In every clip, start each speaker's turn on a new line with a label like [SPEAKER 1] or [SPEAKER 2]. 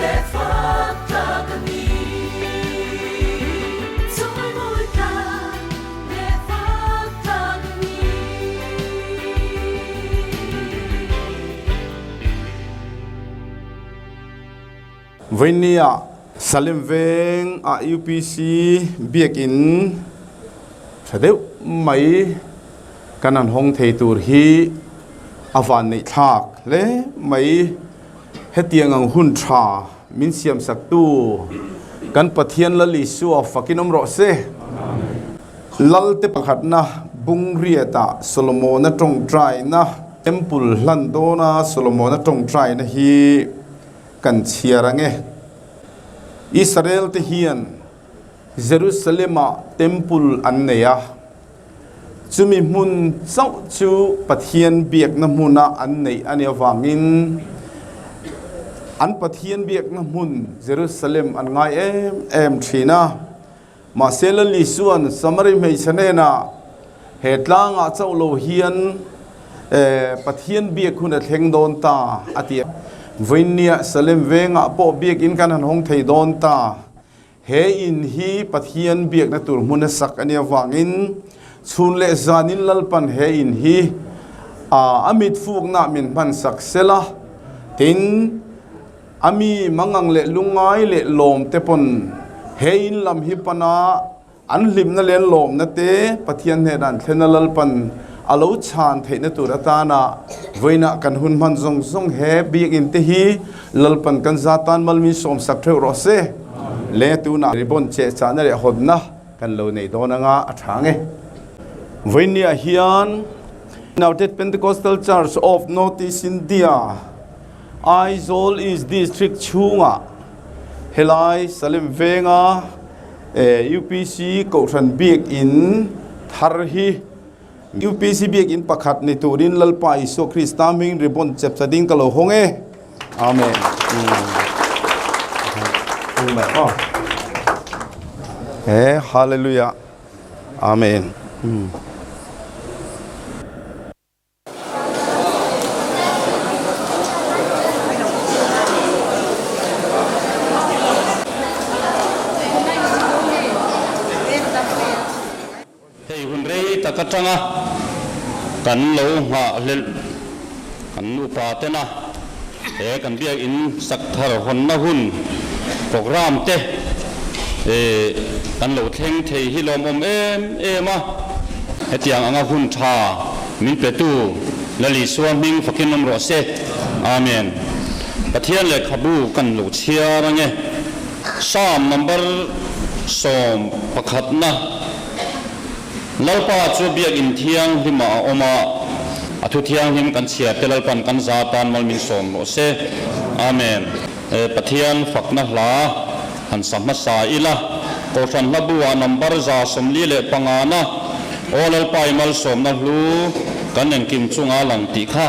[SPEAKER 1] Let's walk talk a ni Chawi mawi tlang Let's walk talk a ni Vainneia Salem veng a UPC biak in tha deuh mai kan han hawng thei tur hi a van neih thlak hle mai. Hetiang ang hun tha min siamsaktu kan Pathian Lal Isua fakin awm rawh se. Lalte pakhatna bungriata Solomona tawngtaina, Temple hlan dawna Solomona tawngtaina hi kan chhiar ang e. Israelte hian Jerusalema Temple an nei a. Chumi hmun chauh chu Pathian biakna hmuna an neih a nih avangin an Pathian biakna hmun Jerusalem an ngai em em thin a. Mahse Lali chuan Samari hmeichhe hnenah, He tlangah chauh lo hian Pathian biak hun a thleng dawn ta a ti a. Vawiin nia Salem vengah pawh biakin kan han hawng thei dawn ta. He in hi Pathian biakna tur hmun a sak ania vangin chhun leh zanin lalpan he in hi ah a mitfukna min hman sak sela tin a mi mangang leh lungngai leh lawm te pawn he in lam hi pana an hlipna leh an lawmna te Pathian hnenah an thlena lalpan a lo chhan theihna tur atana vawiinah kan hun hman zawng zawng he biak in te hi Lalpan kan za tan mal min sawm sak theuh rawh se le tunah ribbon che chahna leh hawtna kan lo nei dawn anga a tha nge. Vawinia hian United Pentecostal Church of North East India, Aizawl East District chhungah helai Salem venga UPC Kohhran Biak in thar hi, UPC biakin pakhat ni turin Lalpa Isua Krista hming ribbon chepchha ding ka lo hawng e. Amen. He hallelujah. Amen.
[SPEAKER 2] Hei hun rei tak atanga kan lo nghah hlelh kan nupa tena he kan biakinn sak thar hawnna hun programme te kan lo thleng thei hi lawmawm em em a, hetiang anga hun tha min petu Lali Sual hming fakin awm rawh se. Amen. Pathian leh khabu kan lo chhiar ange. Psalm number sawm pakhatna. Lalpa chu Biakinn Thianghlimah a awm a, a Thu Thianghlim kan chhiar te Lalpa'n kan za atan malmin sawm rawh se. Amen. E Pathian fakna hla han sa hmasa ila, Kohhran Hlabu-ah number za sawmli leh pangana, Aw Lalpa-i malsawmna hlu kan engkim chunga lang tih kha,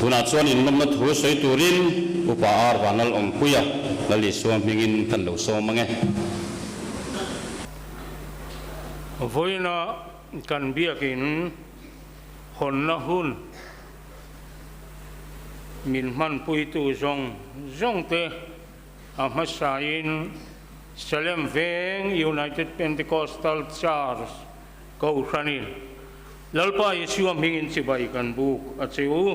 [SPEAKER 2] Tunah chuan inlawmna thu sawi turin upa arva nal awmpui a Lali sual hmingin kan lo sawm mang e.
[SPEAKER 3] Vawiina kan biakin. Hawnna hun min hmanpuitu zawng zawngte a hmasain Salem veng United Pentecostal Church Kohhranin Lalpa Isua hmingin chibai kan buk a che u.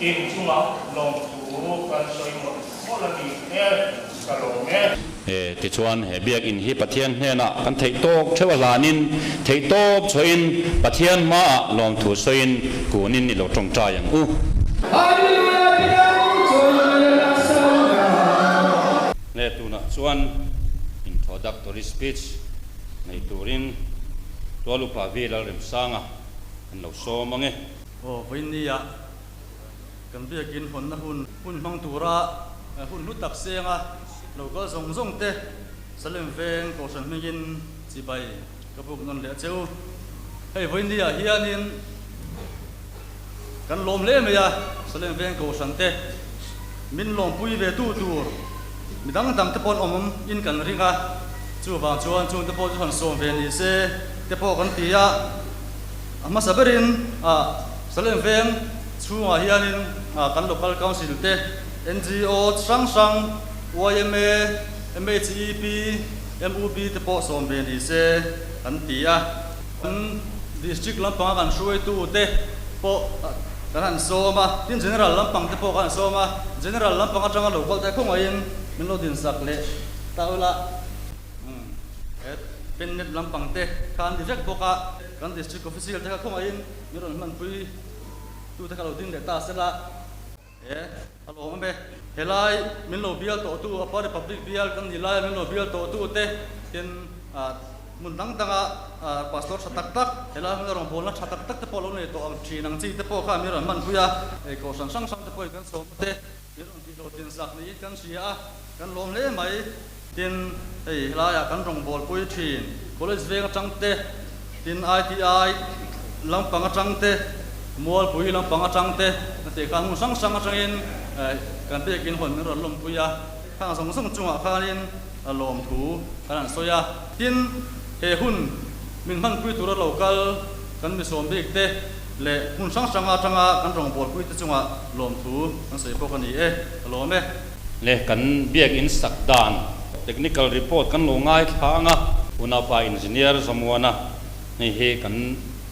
[SPEAKER 3] Eng chunga lawng chu kan sawi mawlh mawlh a nih e, ka lawm e.
[SPEAKER 2] E, tichuan he Biakinn hi Pathian hnenah kan theih tawk theuh a hlanin, theih tawk chhuahin Pathian hmaah lawmthu sawiin kunin i lo tawngtai ang u. Hallelujah Biakinn chuan a ni a Savior. Hne tunah chuan introductory speech nei turin Tualupa Vilalremsanga an lo sawm ang e. Aw, vawinia
[SPEAKER 4] kan biakin hawnna hun hun hmang tura hun hlu tak senga lokal zawng zawng te Salem veng kohhran hmingin chibai ka buk nawn leh cheu. Hei vawinia hianin kan lawm hle mai a, Salem veng kohhran te min lawmpui ve tu tur mi dang dang te pawh an awm in kan ring a, chuvang chuan chungte pawh chu han sawm ve nise te pawh kan ti a. A hmasa berin Salem veng chhungah hianin kan local council te, NGO chi hrang hrang, yma, MHEP, MUB te pawh sawm ve ni se kan ti a. Kan district lampanga kan hruaitu te pawh kan han sawm a, tin general lampang te pawh kan han sawm a, general lampang atanga local te khawngaihin min lo din sak leh ta ulh a. He Penned lampang te kha an ni vek bawk a. Kan District Official te kha khawngaih in min rawn hman pui tu te kha lo ding leh ta se la. E, a lawm em e. Helai min lo bial tawh tu Apa Republic bial kan nih laia min lo bial tawh tu te hian hmun dang dang a Pastor tha tak tak, helai hmuna rawngbawlna tha tak tak te pawh lo nei tawh ang thin ang chi te pawh kha min rawn hman pui a, ei kohhran hrang hrang te pawhin kan sawm ute. Kan rawn tihlo tlin sak niin kan hria a, kan lawm hle mai. Tin, hei helaiah kan rawngbawlpui thin, college veng atang te, tin ITI lampang atang te, mualpui lampang atang te, a tih khan hmun hrang hrang atangin kan biakin hawn min rawn lawmpui a, khang zawng zawng chungah khanin a lawm thu kan han sawi a. Tin, he hun min hmanpui tura lo kal kan mi sawm bik te. leh hmun hrang hrang atanga kan rawngbawlpuite chungah lawmthu kan sawi bawk a ni e, ka lawm e. Leh kan
[SPEAKER 2] biakinn sak dan technical report kan lo ngaithla ang a, Unapa Engineer Zamuana hnih hi kan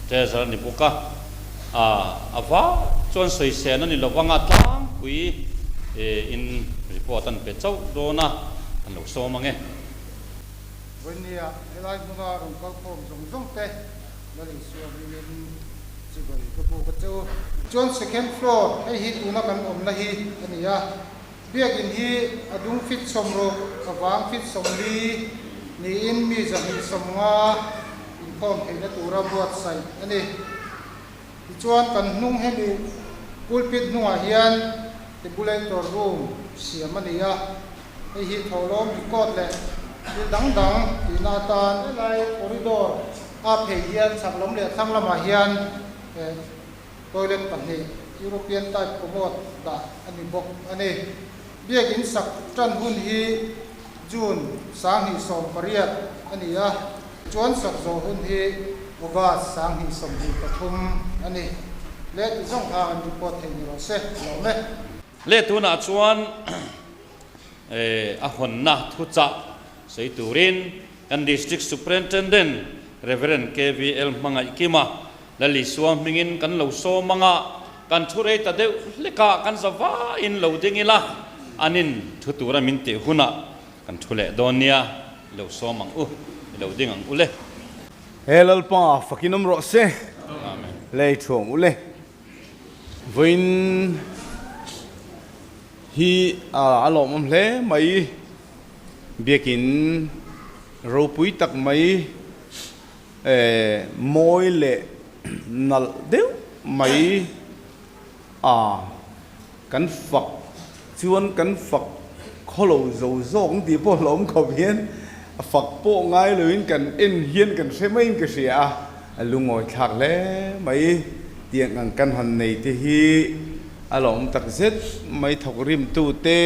[SPEAKER 2] treasure ni bawk a, ah a va chuan sawisehna ni lovanga tlangpui in report a han pe chauh dawn a, kan lo sawm ang e.
[SPEAKER 5] Vawinia helai hmuna rawn kalkhawm zawng zawngte. Lo insual hlin in chibawih ka buk a chu. Chuan second floor hei hi tuna kan awmna hi a ni a, biakin hi a dung fit sawm ruk a vang fit sawm li niin mi zahnih sawm nga inkhawm theihna tura buatsaih a ni. Tichuan kan hnung hemi pulpit hnungah hian tabulator room siam a ni a. Hei hi thlolawm record leh thil dang dang tihna atan. Helai corridor a phei hian chak lawm leh thlang lamah hian toilet pahnih, European type commode, dah a ni bawk a ni. Biak in sak tan hun hi June, Sanghnih sawm pariat, a ni a, chuan sak zawh hun hi August, Sanghnih sawmhnih pathum, a ni. Let zawng hang an report thei ni rawh se, a lawm e. Let tunah
[SPEAKER 2] chuan. a hawnna thu chah sawi turin kan District Superintendent Rev. KVL Hmangaihkima la Lisua hmingin kan lo sawm anga kan thu rei ta deuh hleka kan zavain lo ding ila an in thu tura min tih huna kan thu leh dawn nia i lo sawm ang u i lo ding ang ule. He
[SPEAKER 1] Lalpa fakin awm rawh se. Amen. Lei thuam ule. Vawiin hi a lawmawm hle mai biakin ropui tak mai mawi leh nalh deuh mai a. Kan fak chuan kan fak khaw lo zo zawk ang tih pawh hlawm khawp hian a fak pawh ngai loin kan en hian kan hre maiin ka hria a, a lu ngawithlak hle mai tiang ang kan han nei te hi a lawm tak zet mai thawk rimtute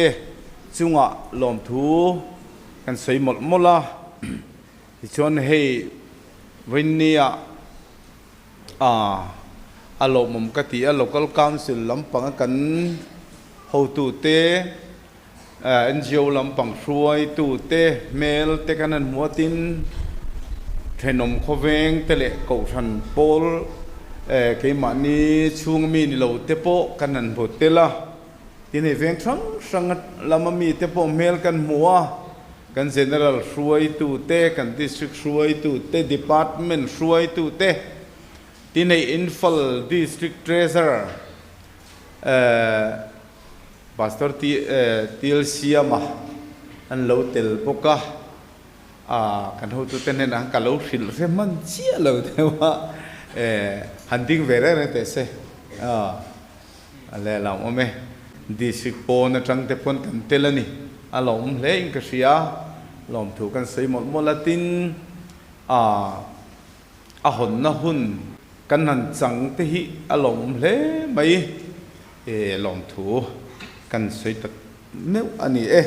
[SPEAKER 1] chungah lawmthu kan sawi mawlh mawlh a tichuan hei vawinia a a lawmawm ka ti a, local council lampanga kan hotute, NGO lampang hruaitute, hmel te kan han hmuatin thenawm khawveng te leh kohhran pawl keimahni chhunga mi ni lo te pawh kan han hmu tel a, tin hei veng hrang hrang lama mi te pawh hmel kan hmu a. Kan General hruaitu te, kan District hruaitu te, Department hruaitu te, ti neih infal District Treasurer Pastor Tial Siama an lo tel bawk a, kan hotu te hnenah ka lo hrilh hre hman chiah lo deuh a, han ding ve reng reng teh se. A lehlam awm e. District pawn atang te paw'n kan tel a ni. A lawm hle in ka hria. Lawmthu kan sawi mawlh mawlh a tin, aah, a hawnna hun kan han chang te hi a lawm hle mai. Eh, lawmthu kan sawi ta meuh a ni e.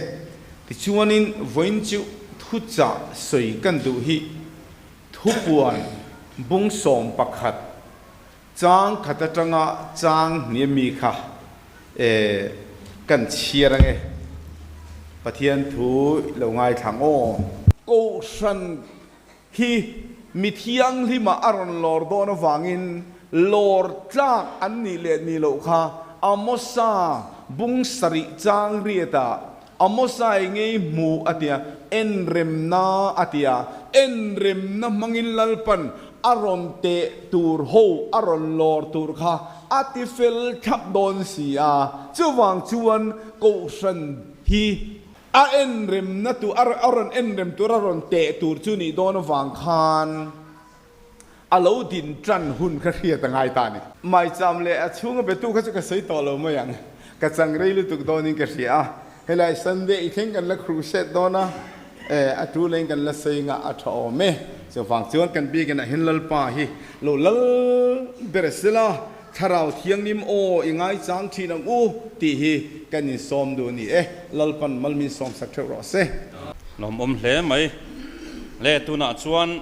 [SPEAKER 1] Tichuanin vawiin chu thuchah sawi kan duh hi thupuan bungsawm pakhat Chang khat atanga chang hniam mi kha e kan chhiar ang e, Pathian thu i lo ngaithlang aw. Kohhran hi mithianghlima a rawn lawr dawn avangin lawr tlak an nih leh ni loh kha Amosa bung sarih changriat ah Amosa i ngei hmu a tia, en remna a tia, en remna hmangin Lalpan a rawn teh tur ho a rawn lawr tur kha a ti fel thlap dawn si a, chuvang chuan Kohhran hi a en remna tur a rawn en rem tur a rawn teh tur chu nih dawn avang khan, A lo din tan hun ka hriat a ngai ta ni. Maicham leh a chhunga betu kha chu ka sawi tawh lo mai ang. Ka changrei lutuk dawnin ka hria a. Helai Sunday i thleng kan la crusade dawn a, eh, a tu lain kan la sawi ngah a tha awm e. Chuvang chuan kan biakin ah hin Lalpa hi lo lal ber a si la, Thlarau Thianghlim aw i ngaichang thin ang u tih hi kan insawm duh a ni e. Lalpan mal min sawmsak theuh rawh se. Lawmawm
[SPEAKER 2] hle mai. Leh tunah chuan.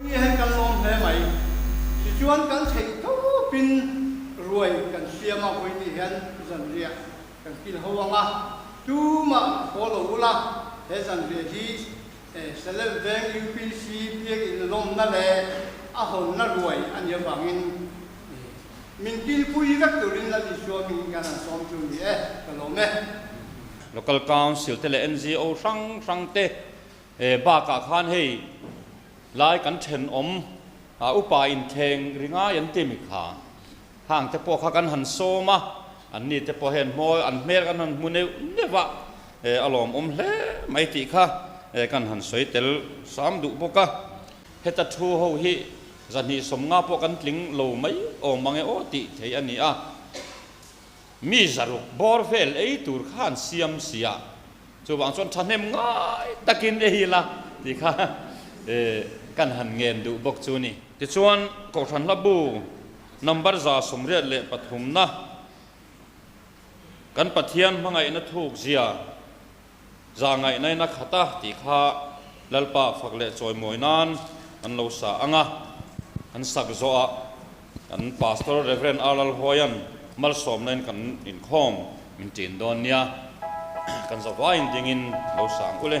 [SPEAKER 2] Nia hi kan lawm hle mai. Tichuan kan theih tawp in ruai kan hriam a, Hawinih hian zanriah kan kil ho ang a, tumah khaw lo u la, he zanriah hi Selemveng UPC biak in lawmna leh a hawnna ruai a nia vangin, Min kilpui vek turin la ti sual min hian an sawm chu ni e, ka lawm e. Local Council te leh NGO hrang hrang te bakah khan hei lai kan thenawm upa inthleng ri ngai an timi kha hang te pawh kha kan han sawm a, an ni te pawh hian hmawi an hmel kan han hmu neuh neuh a, a lawmawm hle mai tih kha kan han sawi tel sam duh bawk a. Heta thu ho hi zahnih sawm nga pawh kan tling lo mai awm ange aw tih theih a ni a. Mi zaruk bawr vel ei tur kha an siam sia. Chuvang chuan thahnem ngai takin ei ila tih kha kan han ngen duh bawk chu ni. Tichuan, Kohhran hlabu number za sawmriat leh pathumna, kan Pathian hmangaihna thuk zia, Za ngaih nain a khat a tih kha Lalpa fak leh chawi mawi nan an lo sa ang a. An sak zawh ah kan Pastor Rev. Ar Lalhawia'n malsawm nain kan inkhawm min ṭin dawn nia. Kan zavaiin dingin lo sang ule.